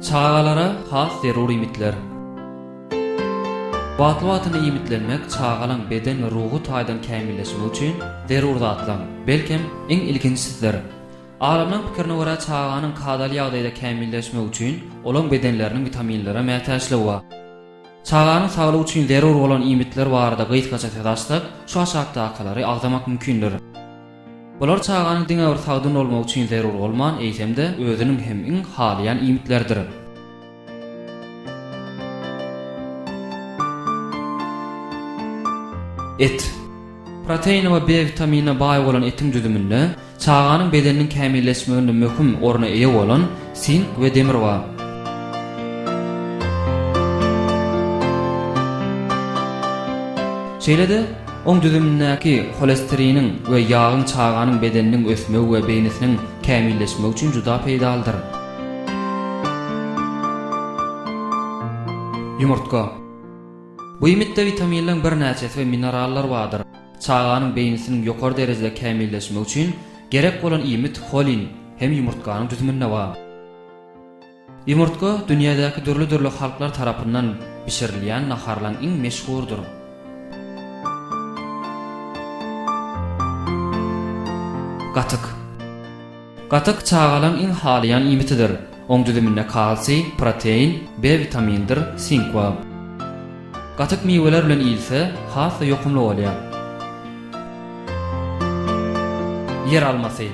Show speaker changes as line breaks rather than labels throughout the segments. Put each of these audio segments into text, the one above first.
Çagalara has zerur iýmitler. Wagtly-wagtyna iýmitlenmek çagalaň beden we ruhy taýdan kämilleşmegi üçin zerur zatlaryň, belkem, iň ilkinjisidir. Alymlaryň pikirine görä, çaganyň kadaly ýagdaýda kämilleşmegi üçin olaň bedenleriniň witaminlere mätäçligi bar. Çaganyň saglygy üçin zerur bolan iýmitler barada gysgaça söz açsak, şu aşakdakylary agzamak mümkindir. Bular çaganyň diňe bir sagdyn bolmagy üçin zerur bolman, eýsem-de, özüniň hem iň halaýan iýmitlerdir. Et. Proteine we B witaminine baý bolan etiň düzüminde Çaganyň bedeniniň kämilleşmeginde möhüm orna eýe bolan sink we demir bar. Şeýle-de, oň düzümindäki holesteriniň we ýagyň çaganyň bedeniniň ösmegi we beýnisiniň kämilleşmegi üçin juda peýdalydyr. Ýumurtga. Bu iýmitde witaminleň birnäçesi we minerallar bardyr. Çaganyň beýnisiniň ýokary derejede kämilleşmegi üçin gerek bolan iýmit holin hem ýumurtganyň düzüminde bar. Ýumurtga dünýädäki dürli-dürli halklar tarapyndan bişirilýän naharlaryň iň meşhurdyr. Gatyk. Gatyk çagalaryň iň halaýan iýmitidir. Oň düzüminde kalsiý, protein, B witamindir, sink bar. Gatyk miweler bilen iýilse, has-da ýokumly bolýar. Ýer almasy.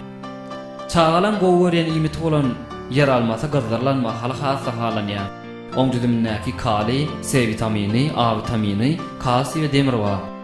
Çagalaryň gowy görýän iýmiti bolan ýer almasy gyzdyrylan mahaly has-da halanýar. Oň düzümindäki kaliý, C witamini, A witamini, kalsiý we demir bar.